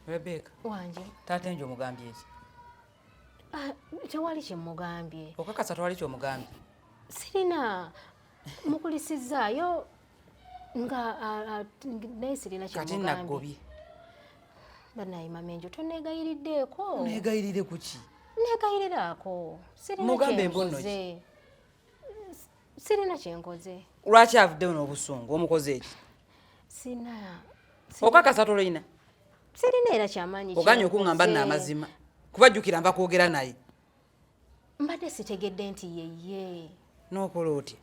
Rebecca. Wanje. Taata enjo omugambye ki? Ah, tewali kye mugambye. Okakasa tewali kye omugambye. Sirina mukulisizaayo nga naye sirina kye mugambye. Kati nagobye. Banaye mamenjo toneegayiriddeeko. Neegayirire ku ki? Neegayiriraako. Sirina kye mbuze. Mugambe embono ki? sirina kyenkoze lwaki avuddeyo n'obusungu omukoze eki sina okakasa tolina sirina era kyamaanyi oganye okuŋamba nno amazima kuba jjukira nva kwogera naye mbadde sitegedde nti yeye n'okola otya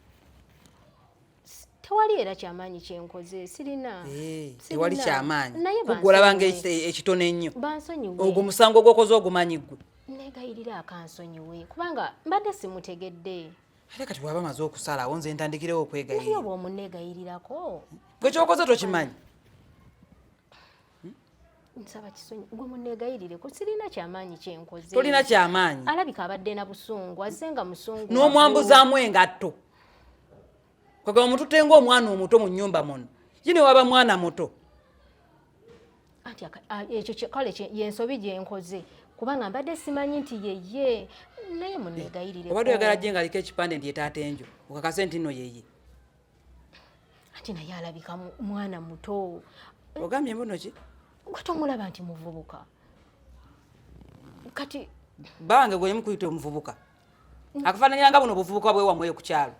tewali era kyamaanyi kyenkoze sirina eh, tewali kyamaanyi kugolabanga ekitono ennyo ogwo musango gwokoze ogumanyi gwe negayirira akansonyiwe kubanga mbadde simutegedde Ate kati bwaba maze okusalawo nze ntandikirewo okwegayirira. Naye oba omuneegayirirako. Gwe kyokoze tokimanyi. Hmm? nsaba kisonyi gwe muneegayirireko sirina kyamaanyi kyenkoze tolina kyamaanyi alabika abadde na busungu azze nga musungu n'omwambuzaamu engatto kwegamba omututte ngaomwana omuto mu nyumba muno yine waba mwana muto anti ekyo kale yensobi gyenkoze kubanga mbadde simanyi nti yeye naye munegayirire obadde oyagala gye ngaliko ekipande nti etaata enjo okakase nti no yeye anti naye alabika mwana muto ogambye mbuno ki gwe tomulaba nti muvubuka kati bange gwe yemukuyita omuvubuka akafaananira nga buno obuvubuka bwewamweyo ku kyalo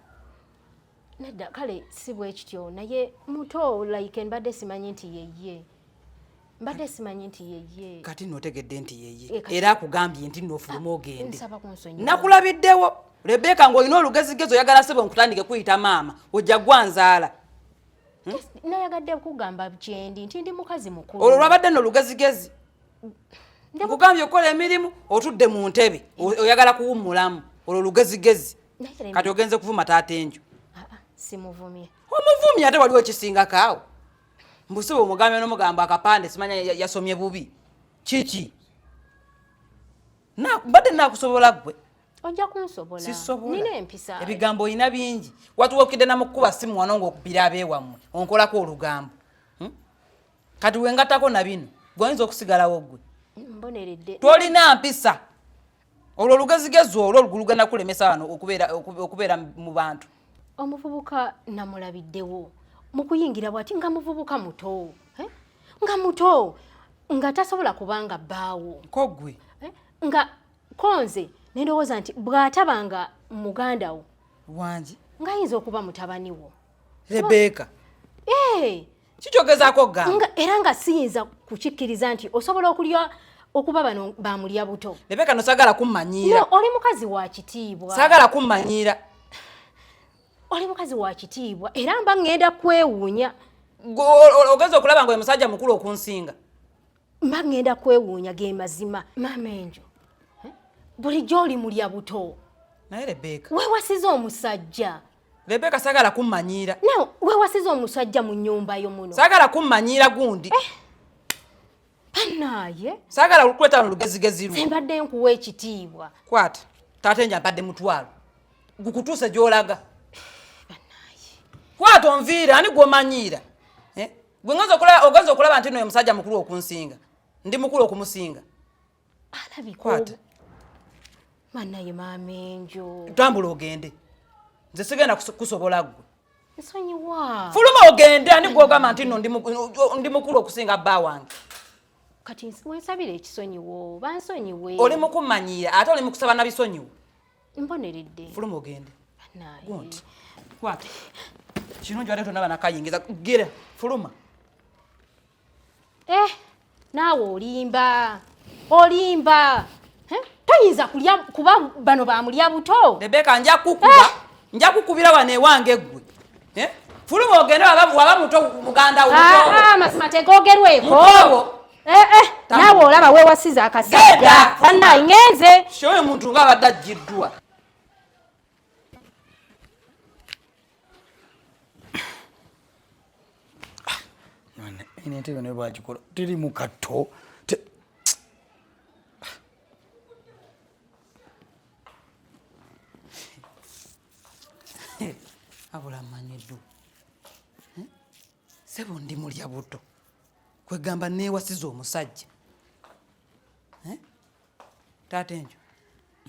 nedda kale si bwekityo naye muto like mbadde simanyi nti yeye mbadde simanyi nti yeye kati notegedde nti yeye eh, era akugambye nti nofuluma ah, ogende nakulabiddewo rebeka ngaolina olugezigezo oyagala sebo nkutandike kuyita maama ojja gwanzaala Hmm? nayagadde kugamba kyendi nti ndi mukazi mukulu olwo lwabadde nolugezigezi nkugambye okukola emirimu otudde mu ntebe oyagala kuwummulamu olwo lugezigezi kati ogenze kuvuma taata enju ah, ah, simuvumye omuvumye ate waliwo ekisingako awo mbusiba omugambe nomugambo akapande simanya yasomye bubi kiki mbadde nakusobola gwe ojja kunsobola nina empisa ebigambo olina bingi watuwokidde namukukuba simu wano ngaokubira abeewammwe onkolako olugambo hmm? kati wengatako na bino gweoyinza okusigalawo gwe tolina mpisa olwo olugezigezi olwo lugana kulemesa wano okubeera mu bantu omuvubuka namulabiddewo mu kuyingira bwati nga muvubuka muto eh? nga muto nga tasobola kubanga bbaawo kogwe eh? nga konze nendowooza nti bw'ataba nga muganda wo wangi ng'ayinza okuba mutabani wo rebeka ee eh! kikyogezaako ga era nga siyinza kukikkiriza nti osobola okulya okuba bano bamulya buto lebeka no sagala kummanyiira oli mukazi wa kitiibwa sagala kummanyiira oli mukazi wa kitiibwa era mba ŋŋenda kwewuunya ogenza okulaba nga oyo musajja mukulu okunsinga mba ŋŋenda kwewuunya ge mazima maama enjo eh? bulijjo oli mulya buto naye rebeka wewasiza omusajja Rebeka sagala kummanyiira. Now we wasiza omusajja mu nyumba yo muno. Sagala kummanyiira gundi. Eh. Anaye. Sagala ukweta lugezi gezi lu. Sembadde nkuwa ekitiibwa. Kwata. Tate nja badde mutwalo. Gukutuse gyolaga. Anaye. Kwata onviira ani gwomanyiira. Eh? Gwe ngozo kula ogozo kulaba ntino ya musajja mukulu okunsinga. Ndi mukulu okumusinga. alabika banaye maama enjo tambula ogende nze sigenda kusobola gwe nsonyiwa fuluma ogende ani gwogamba nti no ndi mukulu okusinga bba wange kati wensabira ekisonyiwo bansonyiwe oli mukumanyira ate oli mukusaba na bisonyiwo mboneredde fuluma ogende gonti kwata kino njwade tonaba nakayingiza gira fuluma Eh, naawe olimba olimba eh, toyinza kulya kuba bano bamulya buto rebeka nja kukuba eh. nja kukubira wano ewange eggwe eh, fuluma ogende waba muto muganda womazima ah, ah, tegogerweko naawe olaba wewasiza akasajja annayi ngenze oyo muntu nga abadde ajjiddwa ino entebe naye bagikola teri mu katto abula amanyidu hmm? sebo ndi mulya buto kwegamba newasiza omusajja taata enjo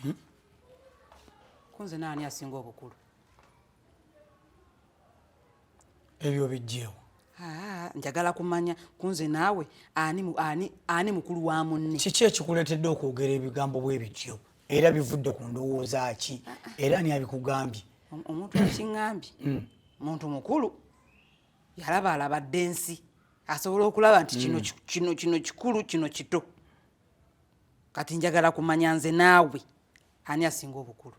hmm? kunze naani asinga obukulu ebyo bijjeewo njagala kumanya kunze naawe ani mukulu wa munne kiki ekikuleetedde okwogera ebigambo bwebityo era bivudde ku ndowooza ki era ani abikugambye omuntu akiŋambye hmm. muntu mukulu yalaba alabadde ensi asobola okulaba nti kino hmm. kikulu kino kito kati njagala kumanya nze naawe ani asinga obukulu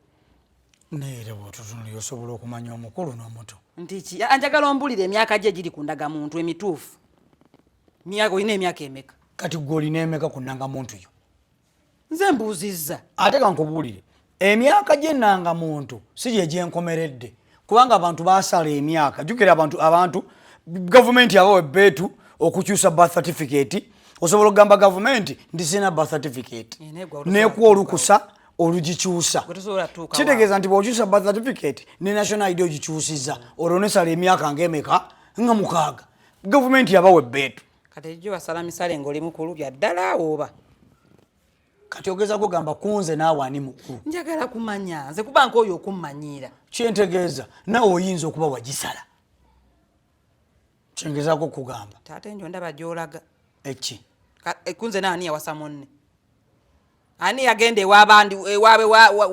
naye era bwotutunuli osobola okumanya omukulu n'omuto ntiki anjagala ombulira emyaka gye giri ku ndagamuntu emituufu myaka olina emyaka emeka kati gwe olina emeka ku ndangamuntu yo nze mbuuzizza ate kankubuulire emyaka gyenanga muntu si gye gyenkomeredde kubanga abantu basala emyaka jukira abantu abantu gavumenti aba webbeetu okukyusa birth certificate osobola okugamba gavumenti nti sirina birth certificate nekuwa olukusa olugikyusa kitegeeza nti bwokyusa birth certificate ne national id ogikyusiza olwo nesala emyaka nga emeka nga mukaaga gavumenti yaba webbeetu kati ejo basala misale ngaoli mukulu byaddala oba kati ogeza kugamba kunze naawe ani mukulu njagala kumanya nze kuba nka oyo okummanyiira kyentegeeza naawe oyinza okuba wagisala kyengezako okugamba taata enjo ndaba gyolaga eki e, kunze naani yawasa munne ani yagenda ewabandi ewabe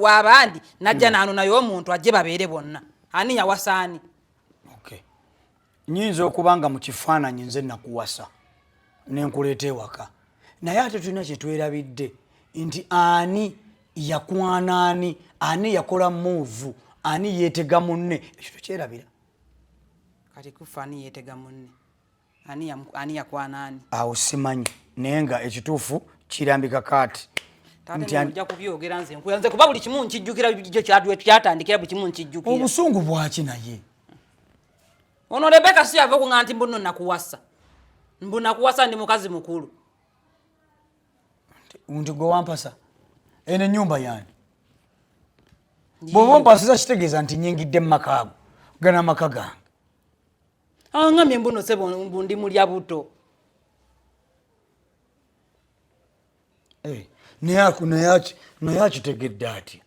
wabandi najja hmm. naano naye omuntu ajje babeere bonna ani yawasaani nyinza okuba nga mu kifaananyi nze nakuwasa ne nkuleeta ewaka naye ate tulina kye twerabidde nti ani yakwana ani ani yakola muuvu ani yeetega munne ekyo tukyerabira kati kufa ani yeetega munne ani yakwana ani awo simanyi naye nga ekituufu kirambika kaati kuba buli kimu nkijjukira kyatandikira buli kimu nkijjukira obusungu bwaki naye ono rebeka si yava okuŋa nti mbuno nakuwasa mbu nakuwasa ndi mukazi mukulu nti gwe wampasa eno enyumba yani bwoba ompasiza kitegeeza nti nyingidde mu makaago gana amaka gange aŋamye ah, mbuno sebo mbu ndi mulya buto Eh, naye akitegedde atya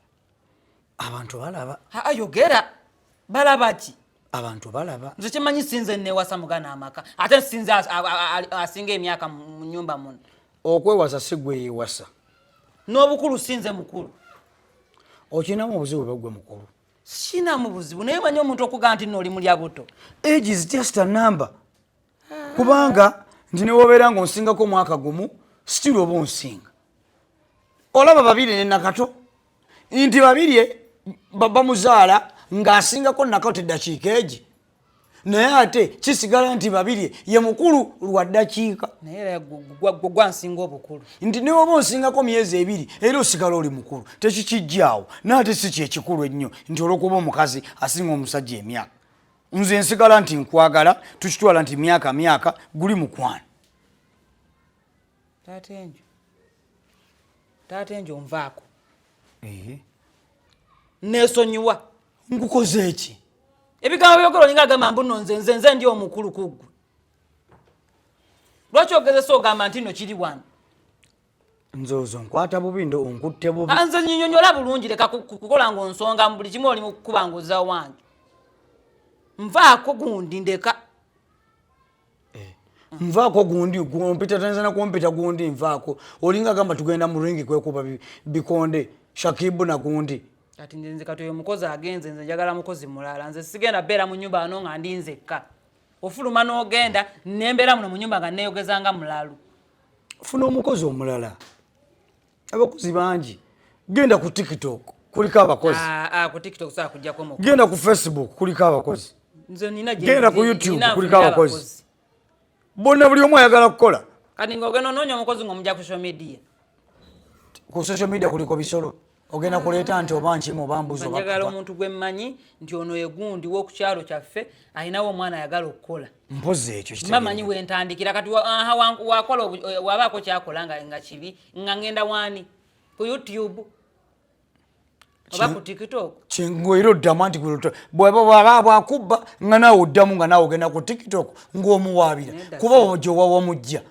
abantu balaba ayogera balaba ki abantu balaba nze kimanyi sinze newasa mugana amaka ate sinze asinga emyaka mu nyumba muno okwewasa si gwe yewasa n'obukulu sinze mukulu okirinamu obuzibu bwegwe mukulu sinamu buzibu naye manyi omuntu okugaa nti nooli mulya buto age is just a number kubanga nti newobeera nga onsingako omwaka gumu stil oba onsinga olaba babiri ne nakato nti babiri e, baba muzaala ng'asingako nakato eddakiika egi naye ate kisigala nti babiri e, ye mukulu lwa ddakiika gwansinga obukulu nti newoba onsingako myezi ebiri era osigala oli mukulu tekikijjaawo naye ate si kyekikulu ennyo nti olwokuba omukazi asinga omusajja emyaka nze nsigala nti nkwagala tukitwala nti myaka myaka guli mukwano taata enjo taata enjo nvaako nesonyiwa nkukoze eki ebigambo byogera olinga agamba mbuno nze nze nze ndi omukulu kuggwe lwaki ogezesa ogamba nti no kiri wano nze ozo nkwata bubi ndo onkutte bubi nze nyinyonyola bulungi leka kukola nga onsonga mu buli kimu oli mu kukuba nga oza wange nvaako gundi ndeka eh, nvaako gundi gumpita tanza na kumpita gundi nvaako olinga gamba tugenda mu ringi kwekuba bikonde shakibu na gundi kati nze nze kati oyo mukozi agenze nze njagala mukozi mulala nze sigenda beera mu nyumba ano nga ndi nzekka ofuluma n'ogenda nembeera muno mu nyumba nga neyogeza nga mulalu funa omukozi omulala abakozi bangi genda ku tiktok kuliko abakozi ah, ah, genda ku facebook kuliko abakozi genda ku youtube kuliko abakozi bonna buli omu ayagala kukola ku social media kuliko bisolo ogenda kuleeta nti oba nkimu oba mbuzi njagala omuntu gwe mmanyi nti ono egundi wokukyalo kyaffe alinawo omwana ayagala okukola mpozi ekyo mamanyi wentandikira kati wakola eh, wabaako kyakola nga kibi nga ngenda waani ku youtube oba ku tiktok ngoera oddamu anti bwaba bwakubba nga naawe oddamu nga naawe ogenda ku tiktok ngaomuwaabira kuba ojo wawamujja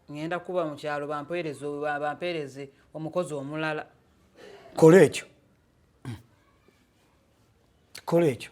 ŋŋenda kuba mu kyalo bampeereze bampeereze omukozi omulala kola ekyo kola ekyo